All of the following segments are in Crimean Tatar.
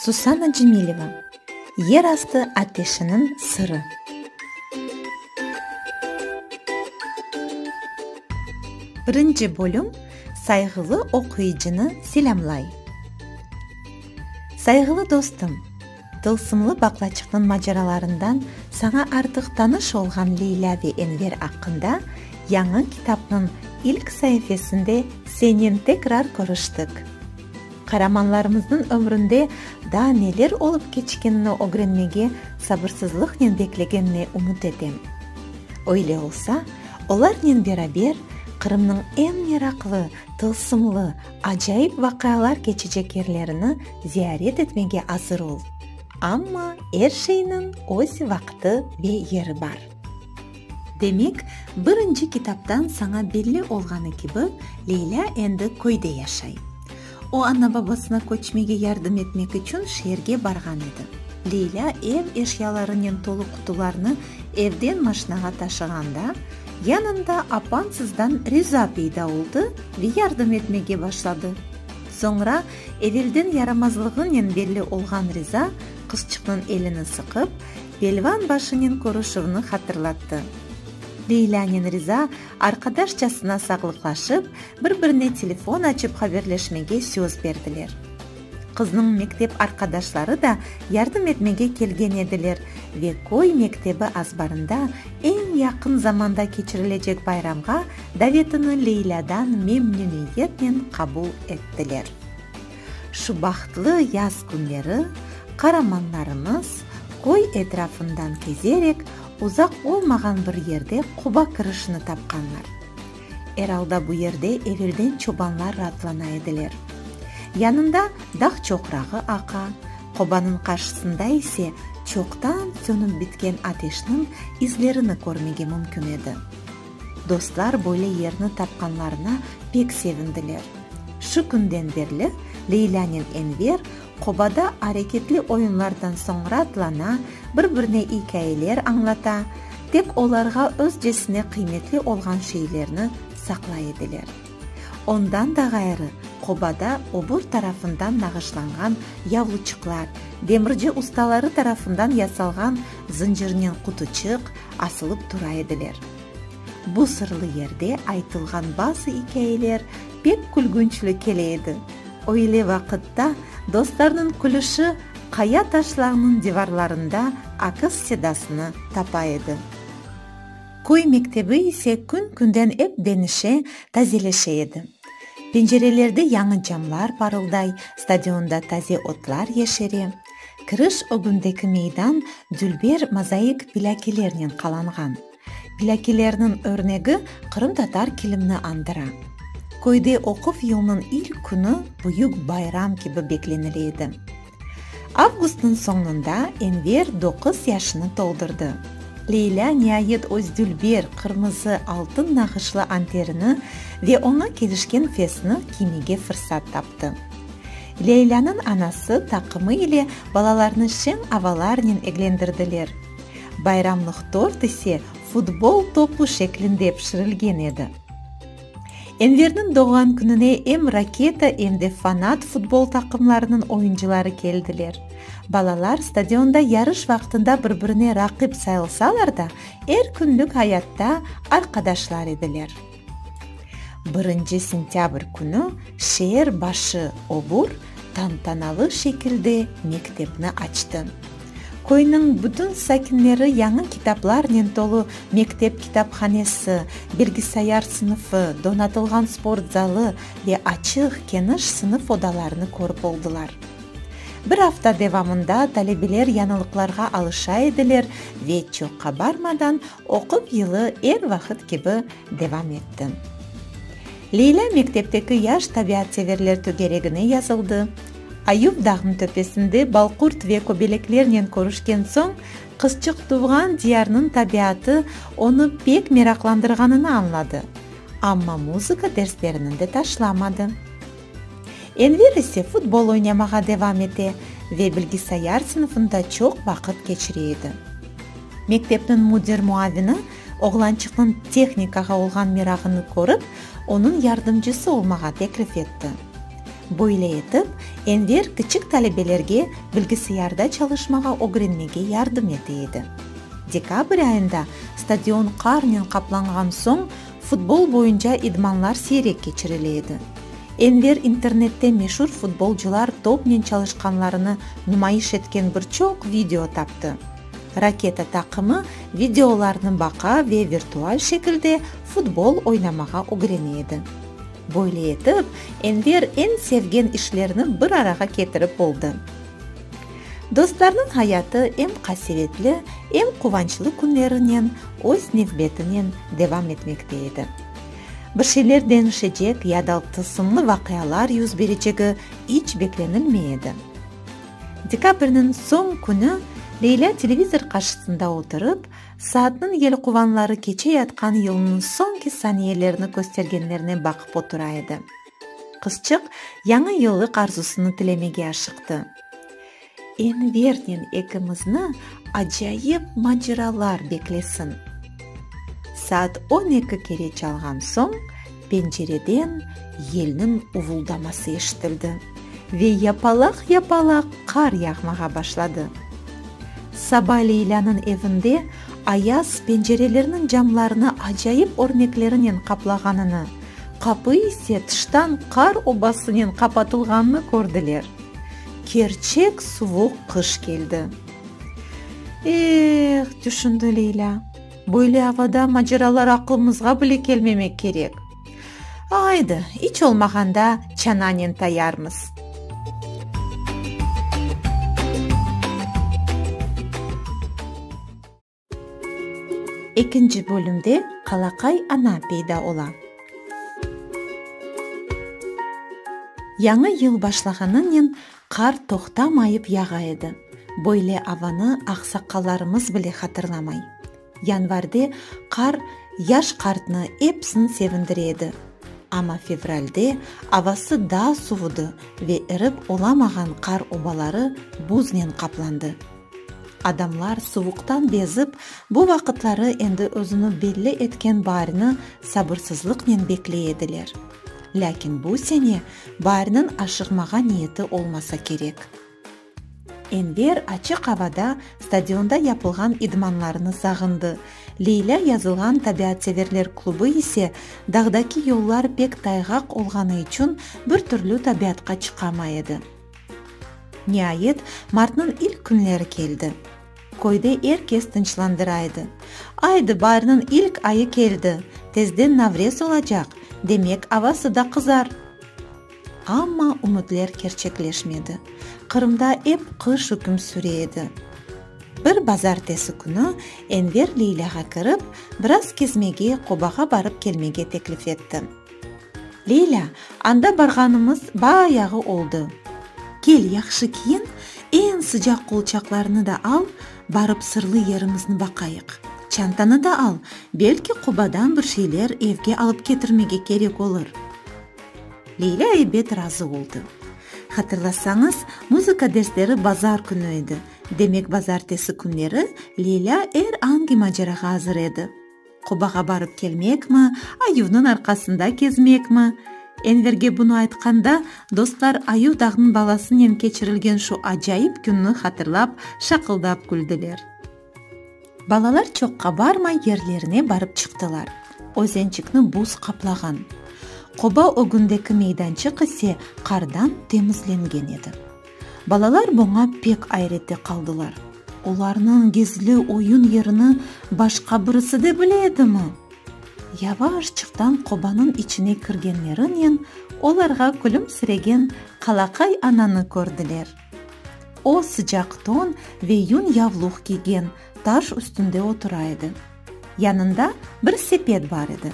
Susana Cemileva, Yer astı ateşiniñ sırı. Birinci bölüm sayğılı oquyıcını selâmlay. Sayğılı dostum! Tılsımlı baqlaçıqnıñ maceralarından saña artıq tanış olğan Leylâ ve Enver aqqında yañı kitapnıñ ilk saifesinde senen tekrar körüştik. Qaramanlarımıznıñ ömründe daa neler olıp keçkenini ögrenmege sabırsızlıqnen beklegenine ümüt etem. Öyle olsa, olarnen beraber Qırımnıñ eñ meraqlı, Tılsımlı, acayip vaqialar keçecek yerlerini ziyaret etmege azır ol. Amma er şeyniñ öz vaqıtı ve yeri bar. Demek, birinci kitaptan saña belli olğanı kibi, Leylâ endi köyde yaşay. O ana-babasına köçmege yardım etmek içün şeerge barğan edi. Leylâ ev eşyalarınen tolu qutularnı evden maşinağa taşığanda, Yanında apam sizden riza peyda oldı ve yardım etmege başladı. Soñra evelden yaramazlığınen belli olğan riza qızçıqnıñ elini sıqıp, pelvan başınen körüşüvni hatırlattı. Leylânen riza arqadaşçasına sağlıqlaşıp, bir-birine telefon açıp haberleşmege söz berdiler. Qıznıñ mektep arqadaşları da yardım etmege kelgen ediler ve köy mektebi azbarında eñ yaqın zamanda keçirilecek bayramğa davetini Leylâdan memnüniyetnen qabul ettiler. Şu bahtlı yaz künleri qaramanlarımız köy etrafından kezerek uzaq olmağan bir yerde qoba kirişini tapqanlar. Er alda bu yerde evelden çobanlar raatlana ediler. Yanında dağ çoqrağı aqa, qobanıñ qarşısında ise çoqtan sönip bitken ateşniñ izlerini körmege mümkün edi. Dostlar böyle yerni tapqanlarına pek sevindiler. Şu künden berli Leylânen Enver Qobada areketli oyunlardan soñ raatlana, bir-birine ikâyeler añlata, tek olarğa özcesine qıymetli olğan şeylerni saqlay ediler. Ondan da ğayrı, qobada obur tarafından nağışlanğan yavluçıqlar, demirci ustaları tarafından yasalğan zıncırnen qutuçıq asılıp tura ediler. Bu sırlı yerde aytılğan bazı ikâyeler Pek külgünçli kele edi. Öyle vaqıtta dostlarnıñ külüşi qaya taşlağnıñ divarlarında akız sedasını tapa edi. Köy mektebi ise kün-künden ep denişe, tazeleşe edi. Pencerelerde yañı camlar parılday, stadionda taze otlar yeşere. Kiriş ögündeki meydan dülber mozaik pilâkilernen qalanğan. Plâkilerniñ örnegi qırımtatar kilimni andıra. Köyde oquv yılnıñ ilk künü büyük bayram kibi beklenile edi. Avgustnıñ soñunda Enver doquz yaşını toldurdı. Leylâ niayet öz dülber, qırmızı, altın nağışlı anterini ve oña kelişken fesni kiymege fırsat taptı. Leylânıñ anası taqımı ile balalarnı şeñ avalarnen eglendirdiler. Bayramlıq tort ise futbol topu şeklinde pişirilgen edi. Enverniñ doğğan kününe em Raketa, em de Fanat futbol taqımlarınıñ oyuncıları keldiler. Balalar stadionda yarış vaqtında bir-birine raqip sayılsalar da, er künlük ayatta arqadaşlar ediler. Birinci sentâbr künü şeer başı obur tantanalı şekilde mektepni açtı. Köyniñ bütün sakinleri yañı kitaplarnen tolu mektep kitaphanesi, bilgisayar sınıfı, donatılğan sport zalı ve açıq, keniş sınıf odalarını körip oldılar. Bir afta devamında talebeler yañılıqlarğa alışa ediler ve çoq qabarmadan Oquv yılı er vaqıt kibi devam etti. Leylâ mektepteki yaş tabiatseverler tögeregine yazıldı. Ayub dağnıñ töpesinde balqurt ve köbeleklernen körüşken soñ, qızçıq tuvğan diyarnıñ tabiatı onı pek meraqlandırğanını añladı, amma muzıka dersleriniñ de taşlamadı. Enver ise futbol oynamağa devam ete ve bilgisayar sınıfında çoq vaqıt keçire edi. Mektepniñ müdir muavini oğlançıqnıñ tehnikağa olğan merağını körip, onıñ yardımcısı olmağa teklif etti. Böyle etip, Enver kiçik talebelerge bilgisayarda çalışmağa ögrenmege yardım ete edi. Dekabr ayında stadion qarnen qaplanğan soñ, Futbol boyunca idmanlar siyrek keçirile edi. Enver internette meşur futbolcılar topnen çalışqanlarını numayış etken bir çoq video taptı. Raketa taqımı videolarnı baqa ve virtual şekilde futbol oynamağa ögrene edi. Böyle etip, Enver eñ sevgen işlerni bir arağa ketirip oldı. Dostlarnıñ hayatı em qasevetli, em quvançlı künlerinen öz nevbetinen devam etmekte edi. Bir şeyler deñişecek ya da tılsımlı vaqialar yüz berecegi iç beklenilmey edi. Dekabrniñ soñ künü Leylâ televizor qarşısında oturıp, saatnıñ yelquvanları keçe yatqan yılnıñ soñki saniyelerini köstergenlerine baqıp otura edi. Qızçıq Yañı yıllıq arzusını tilemege aşıqtı. Envernen ekimizni acayip maceralar beklesin. Saat on eki kere çalğan soñ, pencereden yelniñ uvuldaması eşitildi ve yapalaq-yapalaq qar yağmağa başladı. Saba Leylânıñ evinde ayaz pencerelerniñ camlarını acayip örneklerinen qaplağanını, Qapı ise tıştan qar obasınen qapatılğanını kördiler. Kerçek suvuq qış keldi. Eh, tüşündi Leylâ, böyle avada maceralar aqlımızğa bile kelmemek kerek. Aydı, iç olmağanda çananen tayarmız. Ekinci bölümde Qalaqay ana peyda ola. Yañı yıl başlağanınen qar toqtamayıp yağa edi. Böyle avanı aqsaqqallarımız bile hatırlamay. Yanvarde qar yaş qartnı epsin sevindire edi. Amma fevralde avası daa suvudı ve erip olamağan qar obaları buznen qaplandı. Adamlar suvuqtan bezip, bu vaqıtları endi özüni belli etken baarni sabırsızlıqnen bekley ediler. Lâkin bu sene baarniñ aşığmağa niyeti olmasa kerek. Enver açıq avada stadionda yapılğan idmanlarını sağındı, Leylâ yazılğan tabiatseverler klubı ise dağdaki yollar pek tayğaq olğanı içün bir türlü tabiatqa çıqamay edi. Niayet, martnıñ ilk künleri keldi. Köyde er kes tınçlandıraydı. Aydı, bayrnıñ ilk ayı keldi, tezden Navrez olacaq, demek, avası da qızar. Amma ümütler kerçekleşmedi. Qırımda ep qış üküm süre edi. Bir bazartesi künü Enver Leylâğa kirip, biraz kezmege, qobağa barıp-kelmege teklif etti. Leyla, Anda barğanımız bayağı oldı. Kel, yahşı kiyin, eñ sıcaq qolçaqlarını da al, barıp sırlı yerimizni baqayıq. Çantanı da al, belki Qubadan bir şeyler evge alıp ketirmege kerek olur. Leyla ebet razı oldı. Hatırlasañız, muzıka dersleri bazar künü edi, demek bazartesi künleri Leyla er angi macerağa azır edi. Qubağa barıp kelmekmi, ayuvnıñ arqasında kezmekmi? Enverge bunı aytqanda, dostlar ayuv dağnıñ balasınen keçirilgen şu acayip künni hatırlap, şaqıldap küldiler. Balalar çoqqa barmay yerlerine barıp çıqtılar. Özençikni buz qaplağan. Quba ögündeki meydançıq ise qardan temizlengen edi. Balalar buña pek ayrette qaldılar. Olarnıñ gizli oyun yerini başqa birisi de bile edimi? Yavaşçıqtan qobanıñ içine kirgenlerinen olarğa külümsiregen qalaqay ananı kördiler. O, sıcaq ton ve yün yavluq kiygen, taş üstünde otura edi. Yanında bir sepet bar edi.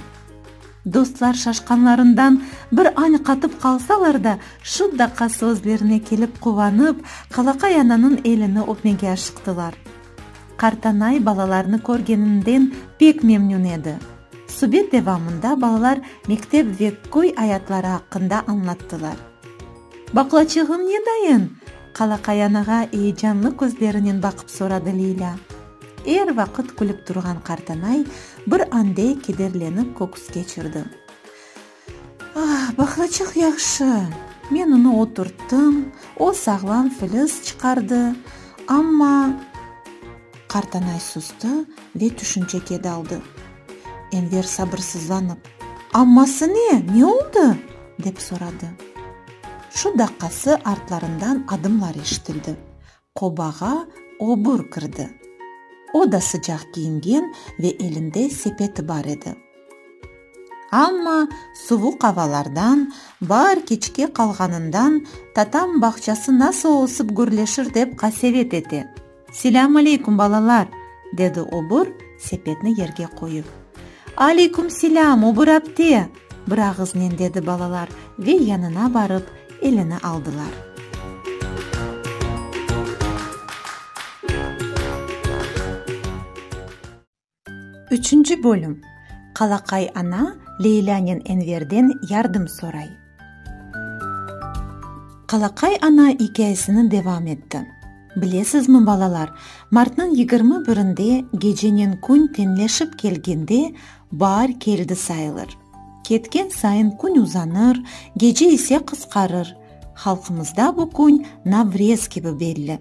Dostlar şaşqanlarından bir añ qatıp qalsalar da, şu daqası özlerine kelip quvanıp, qalaqay ananıñ elini öpmege aşıqtılar. Qartanay balalarnı körgeninden pek memnün edi. Subet devamında balalar mektep ve köy ayatları aqqında añlattılar. Baqlaçığım ne dayın? qalaqay anağa eyecanlı közlerinen baqıp soradı Leylâ. Er vaqıt külip turğan qartanay bir ande kederlenip köküs keçirdi. Ah, baqlaçıq yahşı! Men onı oturttım, o sağlam filiz çıqardı, amma. Qartanay sustı ve tüşünçege daldı. Enver sabırsızlanıp. Amması ne, ne oldı? dep soradı. Şu daqqası artlarından adımlar eşitildi. Qobağa obur kirdi. O da sıcaq kiyingen ve elinde sepeti bar edi. Amma suvuq avalardan, baar keçke qalğanından tatam bağçası nasıl olsıp gürleşir dep qasevet ete. Selâm aleykum, balalar! dedi obur, sepetni yerge qoyıp. Aleykum selâm, obur apte! Bir ağıznen dedi balalar ve yanına barıp, elini aldılar. Üçünci bölüm Qalaqay ana Leylânen Enverden yardım soray. Qalaqay ana ikâyesini devam etti. Bilesizmi, balalar, martnıñ yigirmi birinde gecenen kün teñleşip kelgende, Baar keldi sayılır. Ketken sayın kün uzanır, gece ise qısqarır. Halqımızda bu kün Navrez kibi belli.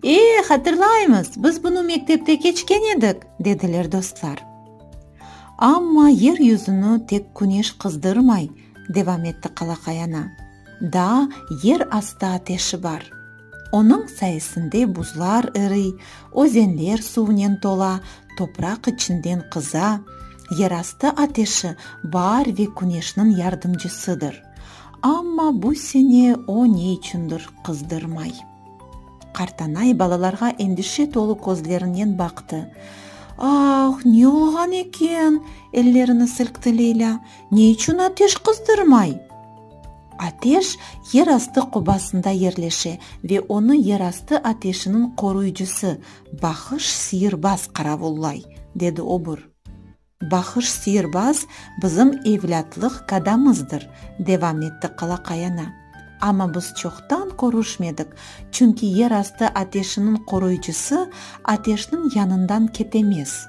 E, hatırlaymız, biz bunı mektepte keçken edik, dediler dostlar. Amma yer yüzüni tek küneş qızdırmay, devam etti qalaqay ana. Daa yer astı ateşi bar. Onıñ sayesinde buzlar eriy, özenler suvnen tola, topraq içinden qıza. Yerastı ateşi baar ve küneşniñ yardımcısıdır. Amma bu sene o ne içündir qızdırmay. Qartanay balalarğa endişe tolu közlerinen baqtı. Ah, ne olğan eken? ellerini silkti Leylâ. Ne içün ateş qızdırmay? Ateş yer astı qobasında yerleşe ve onı yer astı ateşiniñ qoruyıcısı Bahış Siyirbaz qaravullay, dedi obur. Bahış Siyirbaz bizim evlâtlıq kadamızdır, devam etti Qalaqay ana. Amma biz çoqtan körüşmedik, çünki yer astı ateşiniñ qoruyıcısı ateşniñ yanından ketemez.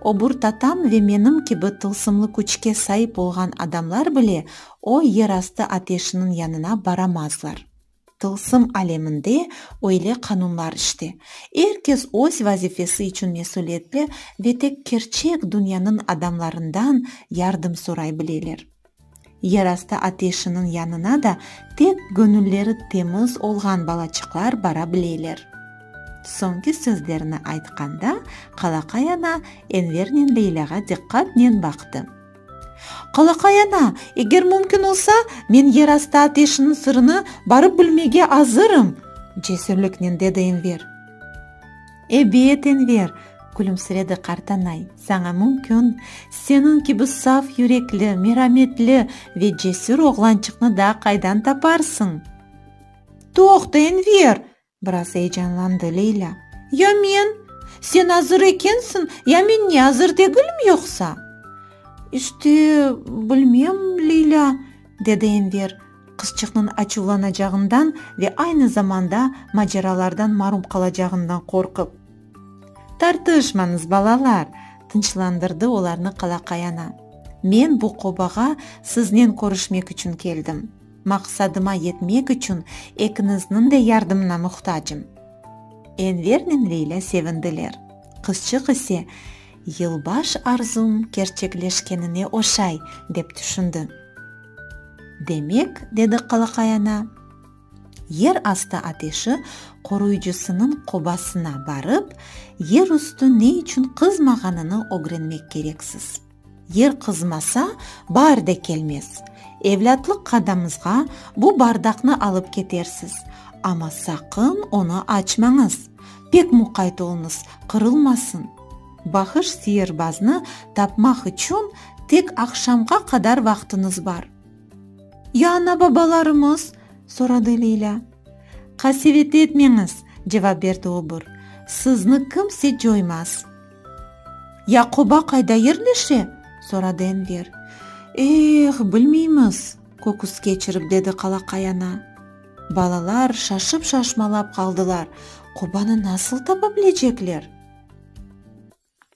Obur tatam ve menim kibi tılsımlı küçke saip olğan adamlar bile O yerastı ateşiniñ yanına baramazlar. Tılsım aleminde öyle qanunlar işte. Er kes öz vazifesi içün mesülietli ve tek kerçek dünyanıñ adamlarından yardım soray bileler. Yerastı ateşiniñ yanına da tek göñülleri temiz olğan balaçıqlar bara bileler. Soñki sözlerini aytqanda qalaqay ana Envernen Leylâğa diqqatnen baqtı. Qalaqay ana, eger mümkün olsa, men yerastı ateşiniñ sırını barıp bilmege azırım, cesürliknen dedi Enver. Ebet, Enver, külümsiredi qartanay, saña mümkün, seniñ kibi saf yürekli, merametli ve cesür oğlançıqnı da qaydan taparsıñ? Toqta, Enver! Biraz eyecanlandı Leyla. Ya men? Sen azır ekensiñ, ya men ne azır degilm yoqsa? İşte, bilmem, Leyla, dedi Enver, qızçıqnıñ açuvlanacağından ve aynı zamanda maceralardan marum qalacağından qorqıp. Tartışmañız, balalar, tınçlandırdı olarnı qalaqay ana. Men bu qobağa siznen körüşmek içün keldim. Maqsadıma yetmek içün ekiniznıñ de yardımına muhtacım. Envernen Leylâ sevindiler. Qızçıq ise, Yılbaş arzum kerçekleşkenine oşay, dep tüşündi. Demek, dedi Qalaqay ana, yer astı ateşi qoruyıcısınıñ qobasına barıp, yer üstü ne içün qızmağanını ögrenmek kereksiz. Er qızmasa, bar de kelmez. Evlâtlıq qadamızğa bu bardaqnı alıp ketersiz, amma saqın onı açmañız, pek muqayt oluñız, qırılmasın. Bahış siyirbaznı tapmaq içün tek aqşamğa qadar vaqtıñız bar. Ya ana-babalarımız? soradı Leylâ. Qasevet etmeñiz, cevap berdi obur, sizni kimse coymaz. Yaquba qayda yerleşe? soradı Enver. Eh, bilmeymiz, köküs keçirip dedi qalaqay ana. Balalar şaşıp-şaşmalap qaldılar, Qubanı nasıl tapa bilecekler?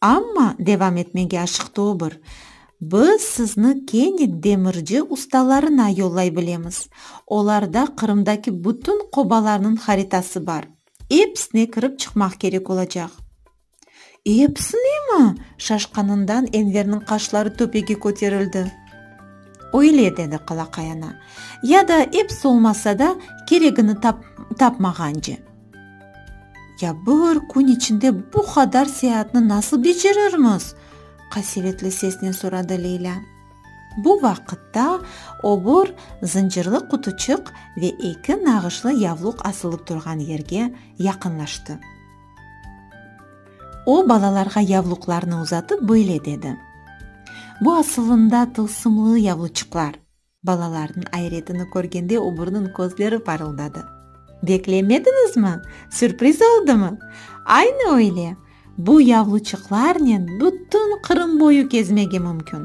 Amma, devam etmege aşıqtı o bir, biz sizni kene demirci ustalarına yollay bilemiz. Olarda Qırımdaki bütün qobalarnıñ haritası bar. Episine kirip çıqmaq kerek olacaq. Epsinimi? Şaşqanından Enverniñ qaşları töpege köterildi. Öyle, dedi qalaqay ana. Ya da epsi olmasa da, keregini tapmağance. Ya bir kün içinde bu qadar seyaatni nasıl becerirmiz? qasevetli sesnen soradı Leylâ. Bu vaqıtta obur zıncırlı qutuçıq ve eki nağışlı yavluq asılı turğan yerge yaqınlaştı. O, balalarğa yavluqlarnı uzatıp böyle dedi, Bu asılında tılsımlı yavluçıqlar. Balalarnıñ ayretini körgende obrnıñ közleri parıldadı. Beklemediñizmi? Sürpriz oldımı? Aynı öyle! Bu yavluçıqlarnen bütün Qırım boyu kezmege mümkün.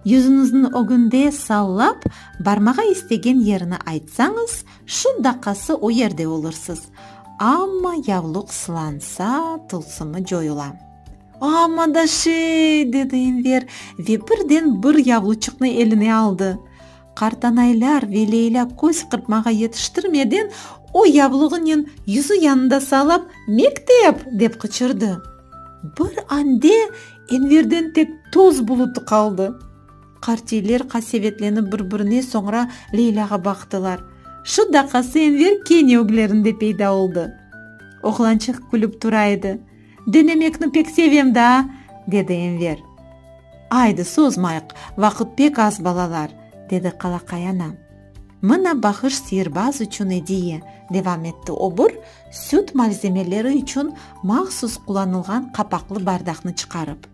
Yüzüñizniñ ögünde sallap, barmağa istegen yerini aytsañız, Şu daqası o yerde olursız. Amma yavluq sılansa, tılsımı coyula. Amma da şey! dedi Enver ve birden bir yavluçıqnı eline aldı. Qartanaylar ve Leyla köz qırpmağa yetiştirmeden o yavluğınen yüzü yanında sağlap, Mektep! dep qıçırdı. Bir ande Enverden tek toz bulutı qaldı. Qartiyler qasevetlenip bir-birine, soñra Leylâğa baqtılar. Şu daqası Enver kene öglerinde peyda oldı. Oğlançıq külip tura edi. Denemekni pek sevem daa! dedi Enver. Aydı, sozmayıq, vaqıt pek az, balalar, dedi Qalaqay ana. Mına bahış siyirbaz içün ediye, devam etti obur, süt malzemeleri içün mahsus qulanılğan qapaqlı bardaqnı çıqarıp.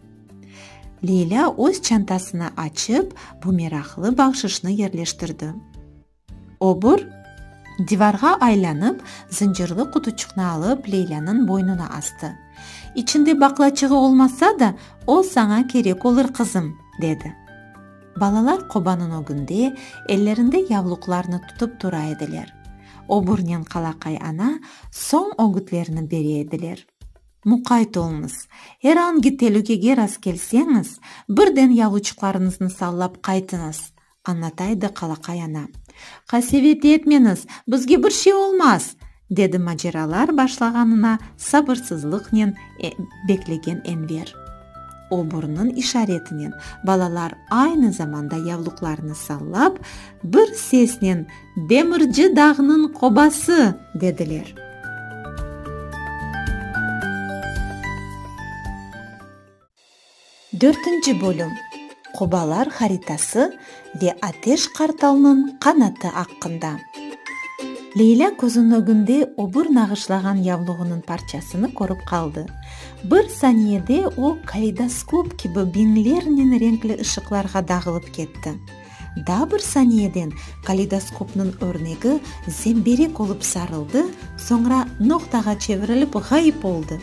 Leylâ öz çantasını açıp, bu meraqlı bağışışnı yerleştirdi. Obur, divarğa aylanıp, zıncırlı qutuçıqnı alıp, Leylânıñ boynuna astı. İçinde baqlaçığı olmasa da, o saña kerek olur, qızım, dedi. Balalar qobanıñ ögünde, ellerinde yavluqlarnı tutıp tura ediler. Oburnen qalaqay ana soñ ögütlerni bere ediler. Muqayt oluñız, er angi telükege rastkelseñiz, birden yavuçıqlarıñıznı sallap qaytıñız, añlataydı qalaqay ana. Qasevet etmeñiz, bizge bir şey olmaz! dedi maceralar başlağanına sabırsızlıqnen beklegen Enver. O burnun işaretinen balalar aynı zamanda yavluqlarını sallap, bir sesnen Demirci dağnıñ qobası, dediler. Dörtünci bölüm Qobalar haritası ve Ateş qartalnıñ qanatı aqqında. Leyla közüniñ ögünde öbür nağışlağan yavluğınıñ parçasını körip qaldı. Bir saniyede o, kaleydoskop kibi biñlernen renkli ışıqlarğa dağılıp ketti. Daa bir saniyeden kaleidoskopnıñ örnegi zemberek olıp sarıldı, soñra noqtağa çevirilip ğayıp oldı.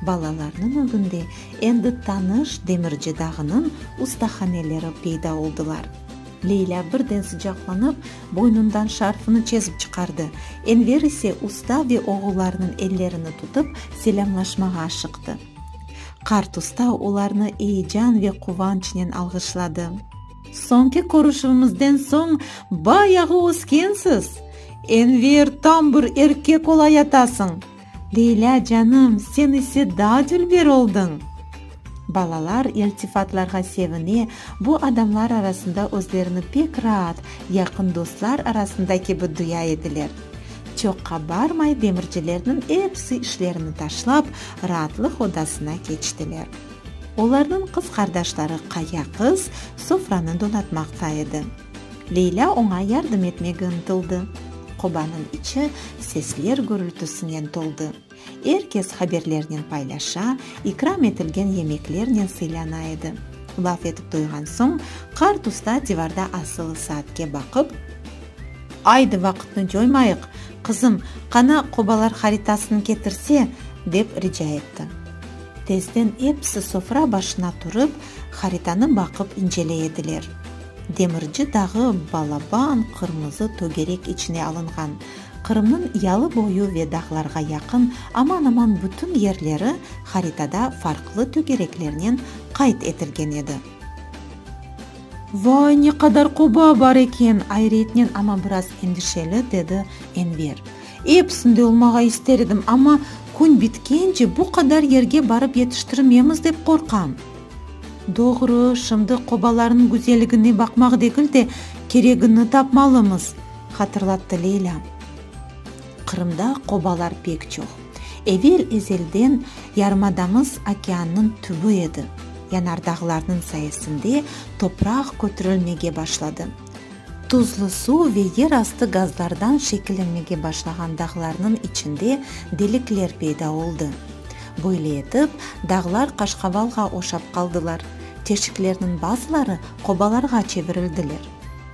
Balalarnıñ ögünde endi tanış Demirci dağınıñ ustahaneleri peyda oldılar. Leylâ birden sıcaqlanıp, boynundan şarfını çezip çıqardı, Enver ise usta ve oğullarnıñ ellerini tutıp, selâmlaşmağa aşıqtı. Qart usta olarnı eyecan ve quvançnen alğışladı. Soñki körüşüvimizden soñ bayağı öskensiz. Enver, tam bir erkek olayatasıñ. Leylâ canım, sen ise daa dülber oldıñ. Balalar iltifatlarğa sevine, bu adamlar arasında özlerini pek raat, yaqın dostlar arasında kibi duya ediler. Çoqqa barmay demircilerniñ episi işlerini taşlap, raatlıq odasına keçtiler. Olarnıñ qız qardaşları Qaya qız sofranı donatmaqta edi. Leylâ oña yardım etmege ıntıldı. Qobanıñ içi sesler gürültisinen toldı. Er kes haberlernen paylaşa, ikram etilgen yemeklernen sıylana edi. Laf etip toyğan soñ, qart usta divarda asılı saatke baqıp. Aydı vaqıtnı coymayıq, qızım, qana qobalar haritasını ketirse, dep rica etti. Tezden episi sofra başına turıp, haritanı baqıp inceley ediler. Demirci dağı balaban qırmızı tögerek içine alınğan. Qırımnıñ yalı boyu ve dağlarğa yaqın aman-aman bütün yerleri haritada farqlı tögereklernen qayd etilgen edi. Vay, ne qadar qoba bar eken! Ayrıyetnen, amma biraz endişeli, dedi Enver. Episinde olmağa ister edim, amma kün bitkence bu qadar yerge barıp yetiştirmemiz dep qorqam. Doğru, şimdi qobalarnıñ güzelligine baqmaq degil de, keregini tapmalımız, hatırlattı Leyla. Qırımda qobalar pek çoq. Evel ezelden yarımadamız okeannıñ tübi edi. Yanardağlarnıñ sayesinde topraq kötürilmege başladı. Tuzlu suv ve yer astı gazlardan şekillenmege başlağan dağlarnıñ içinde delikler peyda oldı. Böyle etip, dağlar qaşqavalğa oşap qaldılar, teşiklerniñ bazıları qobalarğa çevirildiler.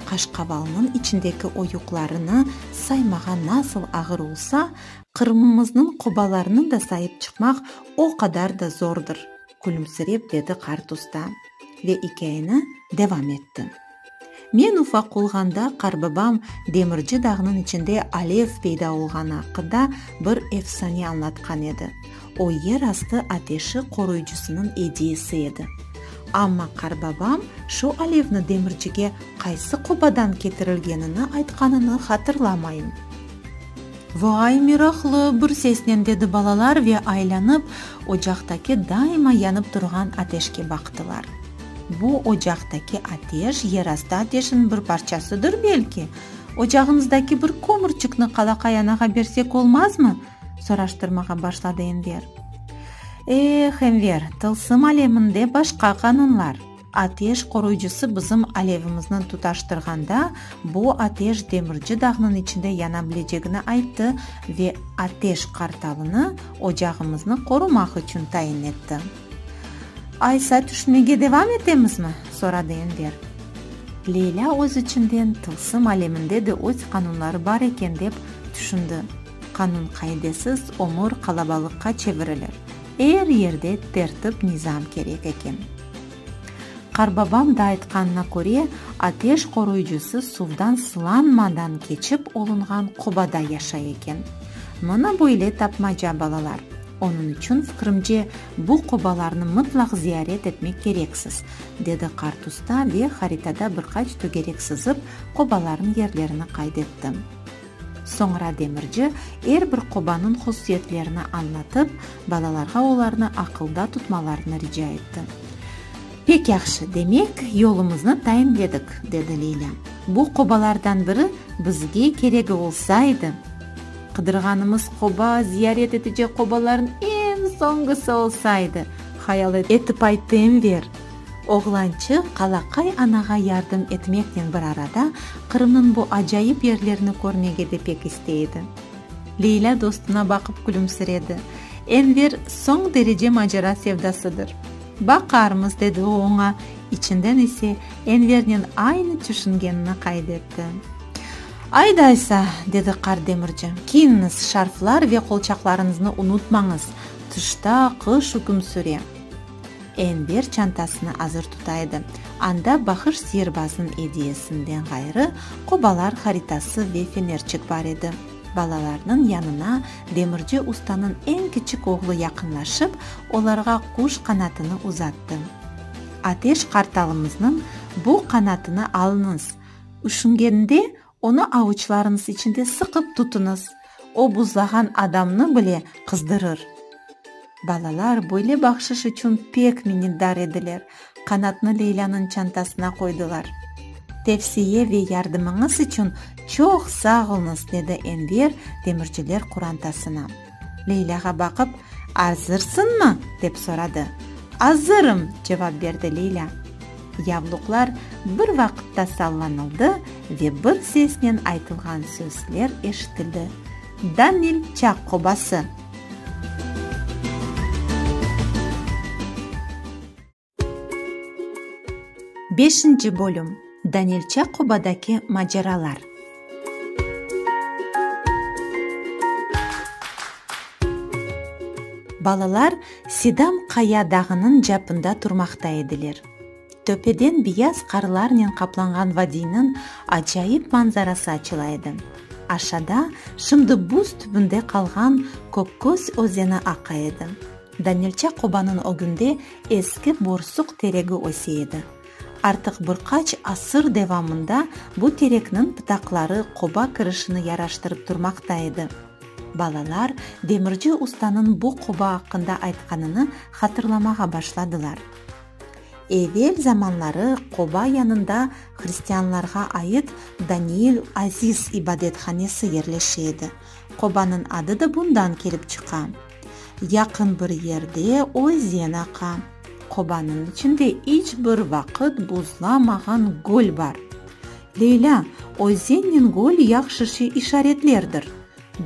Qaşqavalnıñ içindeki oyuqlarını saymağa nasıl ağır olsa, Qırımımıznıñ qobalarını da sayıp çıqmaq o qadar da zordır, külümsirep dedi qart usta ve ikâyeni devam etti. Men ufaq olğanda qarbabam demirci dağnıñ içinde alev peyda olğanı aqqında bir efsane añlatqan edi. O yer astı ateşi qoruyıcısınıñ ediyesi edi. Amma qarbabam şu alevni demircige qaysı qobadan ketirilgenini aytqanını hatırlamayım. Vo-ay, meraqlı! bir sesnen dedi balalar ve aylanıp, ocaqtaki daima yanıp turğan ateşke baqtılar. Bu ocaqtaki ateş yerastı ateşin bir parçasıdır, belki? Ocağımızdaki bir kömürçikni qalaqay anağa bersek olmazmı? soraştırmağa başladı Enver. E-eh, Enver, tılsım aleminde başqa qanunlar. Ateş qoruyıcısı bizim alevimizni tutaştırğanda, bu ateş demirci dağnıñ içinde yana bilecegini ayttı ve ateş qartalını ocağımıznı qorumaq içün tayin etti. Aysa tüşünmege devam etemizmi? soradı Enver. Leyla öz içinden tılsım aleminde de öz qanunları bar eken dep tüşündi, qanun-qaidesiz ömür qalabalıqqa çevirilir. Er yerde tertip-nizam kerek eken. Qarbabam da aytqanına köre, ateş qoruyıcısı suvdan sılanmadan keçip olunğan qobada yaşay eken. Mına böyle tapmaca, balalar. Onıñ içün, fikrimce, bu qobalarnı mıtlaq ziyaret etmek kereksiz, dedi qart usta ve haritada bir qaç tögerek sızıp, qobalarnıñ yerlerini qayd etti. Soñra demirci er bir qobanıñ hususiyetlerini añlatıp, balalarğa olarnı aqılda tutmalarını rica etti. Pek yahşı, demek, yolumıznı tayinledik, dedi Leyla. Bu qobalardan biri bizge keregi olsa edi! Qıdırğanımız qoba ziyaret etecek qobalarnıñ eñ soñğusı olsa edi! hayal etip aytı Enver. Oğlançıq qalaqay anağa yardım etmeknen bir arada Qırımnıñ bu acayip yerlerini körmege de pek istey edi. Leylâ dostuna baqıp külümsiredi. Enver soñ derece macera sevdasıdır. Baqarmız, dedi o oña, içinden ise Envernen aynı tüşüngenini qayd etti. Aydaysa, dedi qart demirci, kiyiniñiz, şarflar ve qolçaqlarıñıznı unutmañız, tışta qış üküm süre. Enver çantasını azır tuta edi. Anda Bahış sirbazın ediyesinden ğayrı, qobalar haritası ve fenerçik bar edi. Balalarnıñ yanına demirci ustanıñ eñ kiçik oğlu yaqınlaşıp, olarğa quş qanatını uzattı. Ateş qartalımıznıñ bu qanatını alıñız! Üşüngeninde Onı avuçlarıñız içinde sıqıp tutuñız, o buzlağan adamnı bile qızdırır. Balalar böyle bahşış içün pek minnetdar ediler, qanatnı Leylânıñ çantasına qoydılar. Tevsiye ve yardımıñız içün çoq sağ oluñız, dedi Enver demirciler qurantasına. Leylâğa baqıp, Azırsıñmı? dep soradı. Azırım! cevap berdi Leylâ. Yavluqlar bir vaqıtta sallanıldı ve bir sesnen aytılğan sözler eşitildi, Danil çaq qobası! Beşinci bölüm Danilçe qobadaki maceralar. Balalar Sidam qaya dağınıñ capında turmaqta ediler. Töpeden biyaz qarlarnen qaplanğan vadiyniñ acayip manzarası açıla edi. Aşada şimdi buz tübünde qalğan Kökköz özeni aqa edi. Danilçe qobanıñ ögünde eski borsuq teregi öse edi. Artıq bir qaç asır devamında bu terekniñ pıtaqları qoba kirişini yaraştırıp turmaqta edi. Balalar demirci ustanıñ bu qoba aqqında aytqanını hatırlamağa başladılar. Evel zamanları qoba yanında hristianlarğa ait Daniil Aziz ibadethanesi yerleşe edi. Qobanıñ adı da bundan kelip çıqa. Yaqın bir yerde özen aqa. Qobanıñ içinde iç bir vaqıt buzlamağan göl bar. Leylâ, özenniñ göl yahşışı işaretlerdir.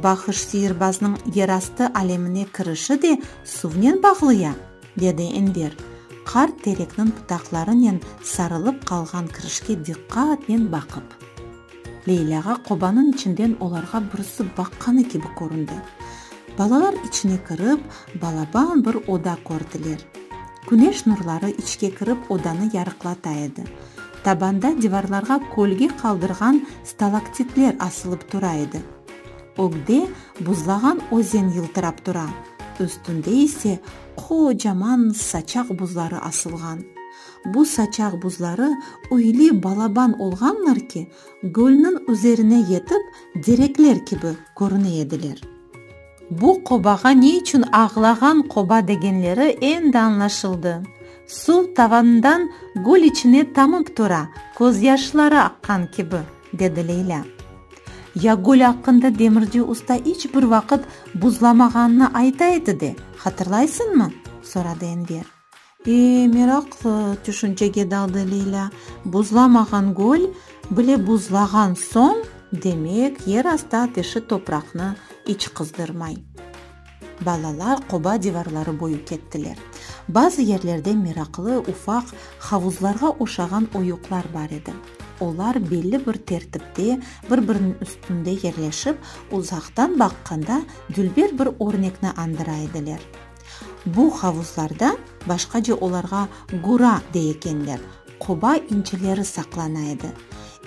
Bahış siyirbaznıñ yerastı alemine kirişi de suvnen bağlı ya? dedi Enver, qart terekniñ pıtaqlarınen sarılıp qalğan kirişke diqqatnen baqıp. Leylâğa qobanıñ içinden olarğa birisi baqqanı kibi köründi. Balalar içine kirip, balaban bir oda kördiler. Küneş nurları içke kirip odanı yarıqlata edi. Tabanda divarlarğa kölge qaldırğan stalaktitler asılıp tura edi. Ögde buzlağan özen yıltırap tura, üstünde ise qocaman saçaq buzları asılğan. Bu saçaq buzları üyli balaban olğanlar ki, gölniñ üzerine yetip, derekler kibi körüne ediler. Bu qobağa ne içün Ağlağan qoba degenleri endi añlaşıldı. Suv tavanından gül içine tamıp tura, közyaşları aqqan kibi, dedi Leylâ. Ya gül aqqında demirci usta iç bir vaqıt buzlamağanını ayta edi de, hatırlaysıñmı? soradı Enver. E, meraqlı tüşüncege daldı Lilâ. Buzlamağan göl bile buzlağan soñ, demek, yerastı ateşi topraqnı iç qızdırmay. Balalar qoba divarları boyu kettiler. Bazı yerlerde meraqlı, ufaq, havuzlarğa oşağan oyuqlar bar edi. Olar belli bir tertipte, bir-biriniñ üstünde yerleşip, uzaqtan baqqanda dülber bir örnekni andıra ediler. Bu havuzlarda, başqaca olarğa gura dey ekenler, qoba inçileri saqlana edi.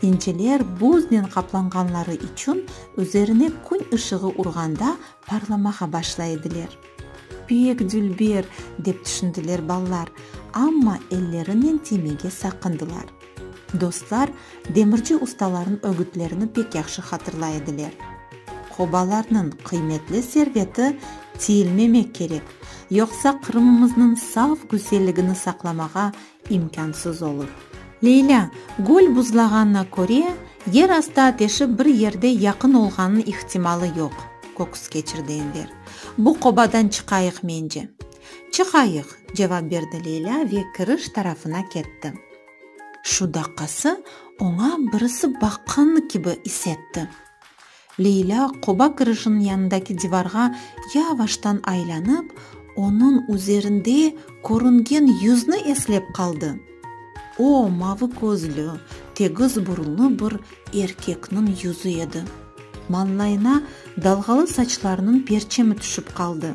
İnciler buznen qaplanğanları içün üzerine kün ışığı urğanda parlamağa başlay ediler. Pek dülber, dep tüşündiler balalar, amma ellerinen tiymege saqındılar. Dostlar demirci ustalarnıñ ögütlerini pek yahşı hatırlay ediler. Qobalarnıñ qıymetli serveti tiyilmemek kerek, yoqsa Qırımımıznıñ saf güzelligini saqlamağa imkânsız olur. Leylâ, göl buzlağanına köre, yer astı ateşi bir yerde yaqın olğanınıñ ihtimalı yoq, köküs keçirdi Enver. Bu qobadan çıqayıq, mence. Çıqayıq, cevap berdi Leylâ ve kiriş tarafına ketti. Şu daqqası oña birisi baqqanı kibi is etti. Leylâ qoba kirişiniñ yanındaki divarğa yavaştan aylanıp, onıñ üzerinde körüngen yüzni eslep qaldı. O, mavı közlü, tegiz burunlı bir erkekniñ yüzi edi. Mañlayına dalğalı saçlarınıñ perçemi tüşip qaldı.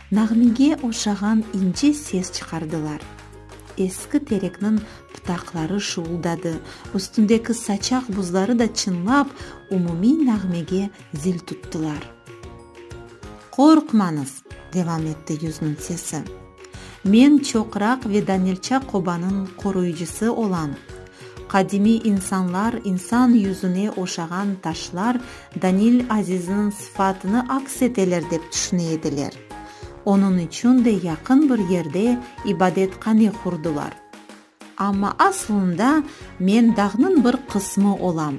Nağmege oşağan ince ses çıqardılar. Eski terekniñ pıtaqları şuvuldadı, üstündeki saçaq buzları da çınlap, umumiy nağmege zil tuttılar. Qorqmañız! devam etti yüzniñ sesi. Men çoqraq ve Danilça qobanıñ qoruyıcısı olam. Qadimiy insanlar insan yüzüne oşağan taşlar Danil Azizniñ sıfatını aks eteler dep tüşüne ediler. Onıñ içün de yaqın bir yerde ibadethane qurdılar. Amma aslında men dağnıñ bir qısmı olam,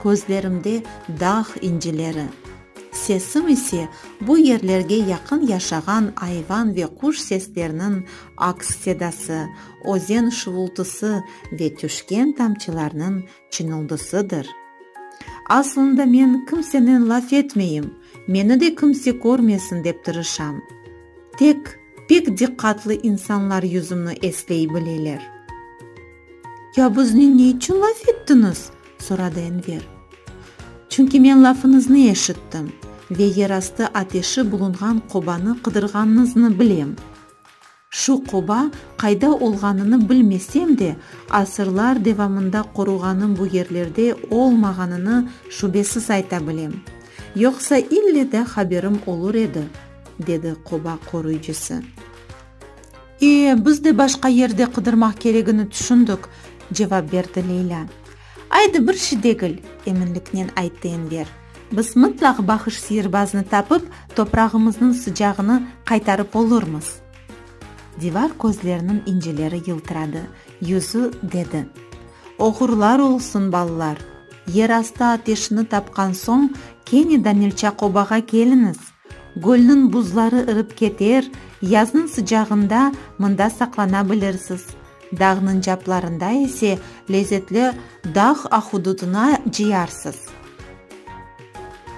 közlerimde dağ incileri. Sesim ise bu yerlerge yaqın yaşağan ayvan ve quş sesleriniñ aks sedası, özen şuvultısı ve tüşken tamçılarnıñ çıñıldısıdır. Aslında men kimsenen laf etmeyim, meni de kimse körmesin dep tırışam. Tek pek diqqatlı insanlar yüzümni esley bileler. Ya bizni ne içün laf ettiñiz? soradı Enver. Çünki men lafıñıznı eşittim ve yerastı ateşi bulunğan qobanı qıdırğanıñıznı bilem. Şu qoba qayda olğanını bilmesem de, asırlar devamında qoruğanıñ bu yerlerde olmağanını şübesiz ayta bilem. Yoqsa ille de haberim olur edi, dedi qoba qoruyıcısı. E, biz de başqa yerde qıdırmaq keregini tüşündik, cevap berdi Leylâ. Aydı bir şey degil, eminliknen ayttı Enver. Biz mıtlaq Bahış Siyirbaznı tapıp, toprağımıznıñ sıcağını qaytarıp olurmız. Divar közleriniñ incileri yıltıradı, yüzü dedi. Oğurlar olsun, balalar! Yerastı ateşini tapqan soñ, kene Danilçakobağa keliñiz! Gölniñ buzları ırıp keter, yaznıñ sıcağında mında saqlana bilirsiz, dağnıñ caplarında ise lezetli dağ ahududına ciyarsız.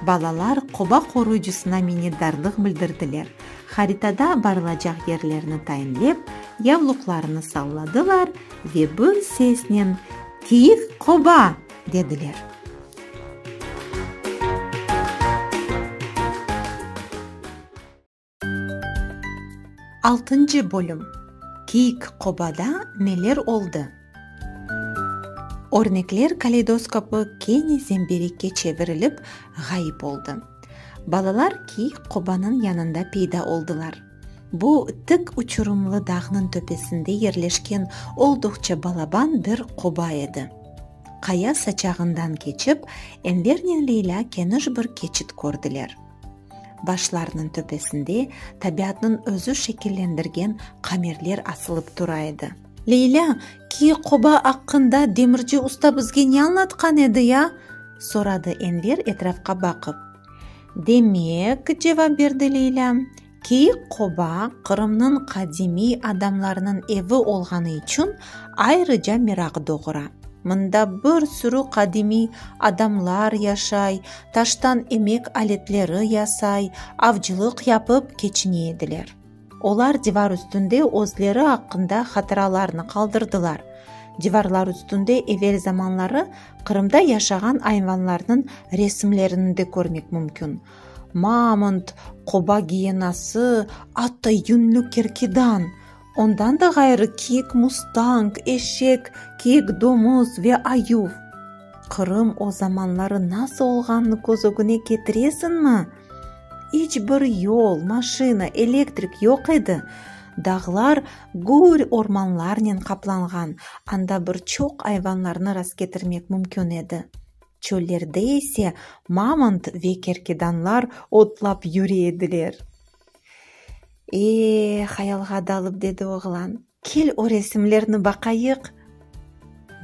Balalar qoba qoruyıcısına minnetdarlıq bildirdiler, haritada barılacaq yerlerni tayinlep, yavluqlarını salladılar ve bir sesnen, Kiyik qoba! dediler. Altıncı bölüm Kiyik qobada neler oldı? Örnekler kaleydoskopı kene zemberikke çevirilip, ğayıp oldı. Balalar kiyik qobanıñ yanında peyda oldılar. Bu tik uçurımlı dağnıñ töpesinde yerleşken olduqça balaban bir qoba edi. Qaya saçağından keçip, Envernen Leylâ keniş bir keçit kördiler. Başlarnıñ töpesinde tabiatnıñ özü şekillendirgen qamerler asılıp tura edi. Leylâ, ki qoba aqqında demirci usta bizge ne añlatqan edi ya? soradı Enver etrafqa baqıp. Demek, cevap berdi Leyla, Keyik qoba Qırımnıñ qadimiy adamlarınıñ evi olğanı içün ayrıca meraq doğura. Mında bir sürü qadimiy adamlar yaşay, taştan emek aletleri yasay, avcılıq yapıp keçine ediler. Olar divar üstünde özleri aqqında hatıralarnı qaldırdılar. Divarlar üstünde evel zamanları Qırımda yaşağan ayvanlarnıñ resimlerini de körmek mümkün, mamont, qoba giyenası, atta yünlü kerkidan, ondan da ğayrı kiyik mustang, eşek, kiyik domuz ve ayuv. Qırım o zamanları nasıl olğanını köz ögüne ketiresiñmi? İç bir yol, maşina, elektrik yoq edi. Dağlar gür ormanlarnen qaplanğan, anda bir çoq ayvanlarnı rastketirmek mümkün edi. Çöllerde ise mamont ve kerkedanlar otlap yüre ediler. Ee, hayalğa dalıp, dedi oğlan. Kel o resimlerni baqayıq.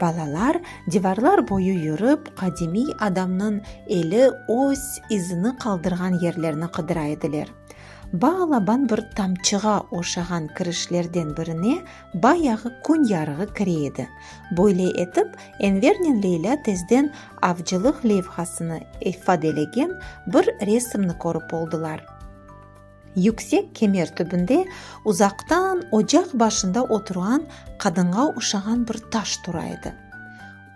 Balalar divarlar boyu yürip, qadimiy adamnıñ eli öz izini qaldırğan yerlerni qıdıra ediler. Baalaban bir tamçığa oşağan kirişlerden birine bayağı kün yarığı kire edi. Böyle etip, Envernen Leylâ tezden avcılıq levhasını ifadelegen bir resimni körip oldılar. Yüksek kemer tübünde uzaqtan ocaq başında oturğan qadınğa oşağan bir taş tura edi.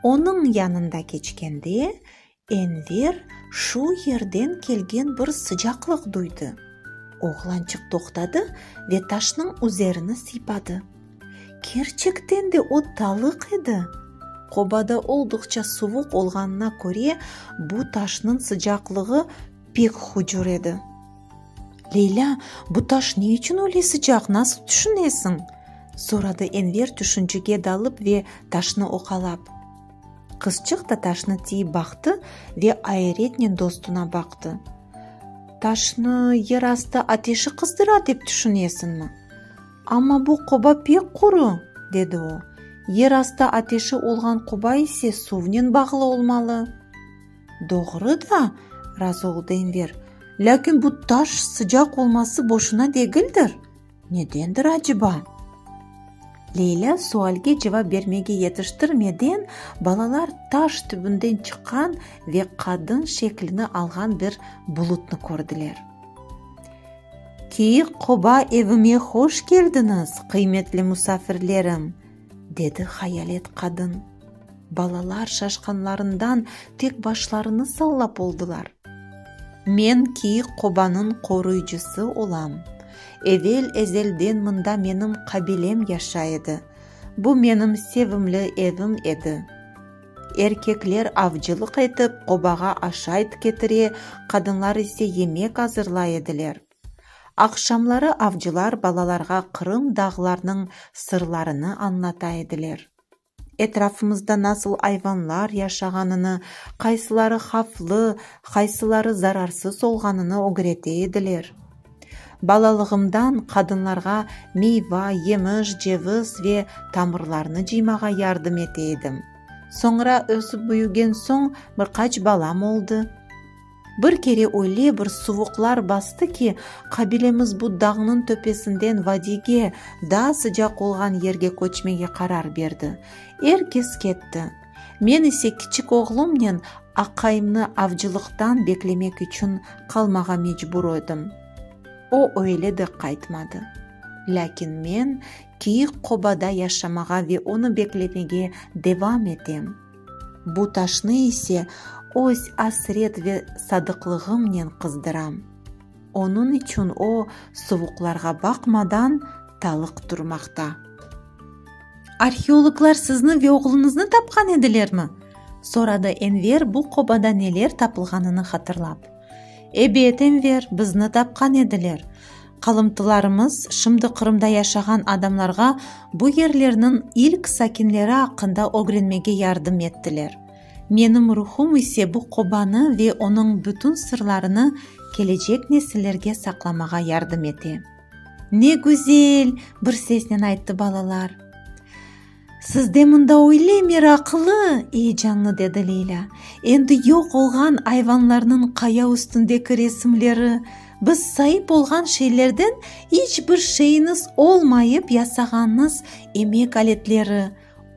Onıñ yanında keçkende, Enver şu yerden kelgen bir sıcaqlıq duydı. Oğlançıq toqtadı ve taşnıñ üzerini sıypadı. Kerçekten de o talıq edi. Qobada olduqça suvuq olğanına köre, bu taşnıñ sıcaqlığı Pek hucur edi. Leylâ, bu taş ne içün öyle sıcaq, nasıl tüşünesiñ? soradı Enver tüşüncege dalıp ve taşnı oqalap. Qızçıq da taşnı tiyip baqtı ve ayeretnen dostuna baqtı. Taşnı yer astı ateşi qızdıra dep tüşünesiñmi? Amma bu qoba pek quru, dedi o. Yer astı ateşi olğan qoba ise suvnen bağlı olmalı. Doğru da, razı oldı Enver, lâkin bu taş sıcaq olması boşuna degildir. Nedendir aceba? Leylâ sualge cevap bermege yetiştirmeden, balalar taş tübünden çıqqan ve qadın şeklini alğan bir bulutnı kördiler. Kiyik qoba evime hoş keldiñiz, qıymetli musafirlerim! dedi hayalet qadın. Balalar şaşqanlarından tek başlarını sallap oldılar. Men ki qobanıñ qoruyıcısı olam. Evel ezelden mında menim qabilem yaşay edi. Bu menim sevimli evim edi. Erkekler avcılıq etip, qobağa aşayt ketire, qadınlar ise yemek azırlay ediler. Aqşamları avcılar balalarğa Qırım dağlarnıñ sırlarını añlata ediler. Etrafımızda nasıl ayvanlar yaşağanını, qaysıları havflı, qaysıları zararsız olğanını ögrete ediler. Balalığımdan qadınlarğa meyva, yemiş, ceviz ve tamırlarnı cıymağa yardım ete edim. Soñra ösip büyügen soñ bir qaç balam oldı. Bir kere öyle bir suvuqlar bastı ki, qabilemiz bu dağnıñ töpesinden vadiyge, daa sıcaq olğan yerge köçmege qarar berdi. Er kes ketti. Men ise kiçik oğlumnen aqayımnı avcılıqtan beklemek içün qalmağa mecbur ödim. O öyle de qaytmadı. Lâkin men kiyik qobada yaşamağa ve onı beklemege devam etem. Bu taşnı ise öz asret ve sadıqlığımnen qızdıram. Onıñ içün o, suvuqlarğa baqmadan, talıq turmaqta. Arheologlar sizni ve oğluñıznı tapqan edilermi? soradı Enver bu qobada neler tapılğanını hatırlap. Ebet, Enver, bizni tapqan ediler. Qalımtılarımız şimdi Qırımda yaşağan adamlarğa bu yerlerniñ ilk sakinleri aqqında ögrenmege yardım ettiler. Menim ruhum ise bu qobanı ve onıñ bütün sırlarını kelecek nesillerge saqlamağa yardım ete. Ne güzel! bir sesnen ayttı balalar. Siz de mında öyle meraqlı, eyecanlı, dedi Leyla. Endi yoq olğan ayvanlarnıñ qaya üstündeki resimleri, biz saip olğan şeylerden iç bir şeyiñiz olmayıp yasağanıñız emek aletleri,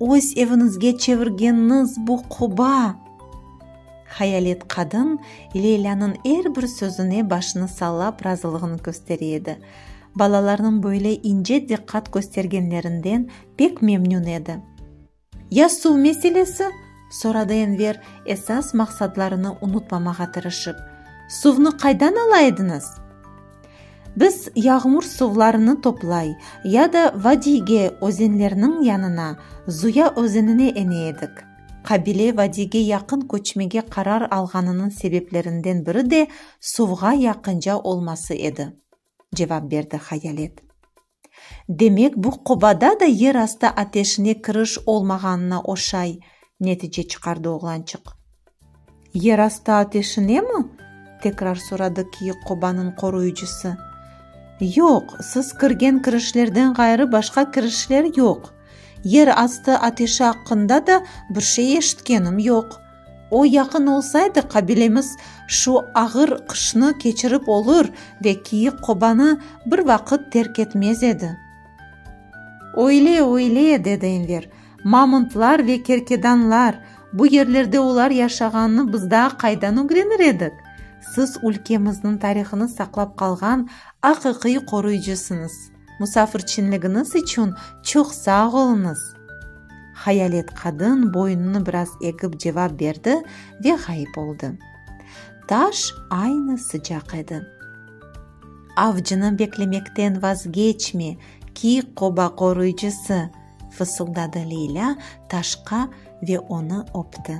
öz eviñizge çevirgeniñiz bu quba. Hayalet qadın Leylanıñ er bir sözüne başını sallap razılığını köstere edi. Balalarnıñ böyle ince diqqat köstergenlerinden Pek memnün edi. Ya suv meselesi? soradı Enver, esas maqsadlarını unutmamağa tırışıp. Suvnı qaydan ala ediñiz? Biz yağmur suvlarını toplay ya da vadiyge, özenlerniñ yanına, Zuya özenine ene edik. Qabile vadiyge yaqın köçmege qarar alğanınıñ sebeplerinden biri de suvğa yaqınca olması edi, cevap berdi Hayalet. Demek, bu qobada da yer astı ateşine kiriş olmağanına oşay netice çıqardı oğlançıq. Yer astı ateşinemi? tekrar soradı kiyik qobanıñ qoruyıcısı. Yoq, siz kirgen kirişlerden ğayrı başqa kirişler yoq. Yer astı ateşi aqqında da bir şey eşitkenim yoq. O yaqın olsaydı, qabilemiz şu ağır qışnı keçirip olur ve Kiyik Qobanı bir vaqıt terk etmez edi. Öyle, öyle, dedi Enver. Mamuntlar ve kerkedanlar, bu yerlerde olar yaşağanını biz daa qaydan ögrenir edik? Siz ülkemizniñ tarihını saqlap qalğan aqiqiy qoruyıcısıñız. Musafirçinligiñiz içün çoq sağ oluñız! Hayalet qadın boyunını biraz egip cevap berdi ve ğayıp oldı. Taş aynı sıcaq edi. Avcını beklemekten vazgeçme, ki qoba qoruyıcısı! fısıldadı Leylâ taşqa ve onı öpti.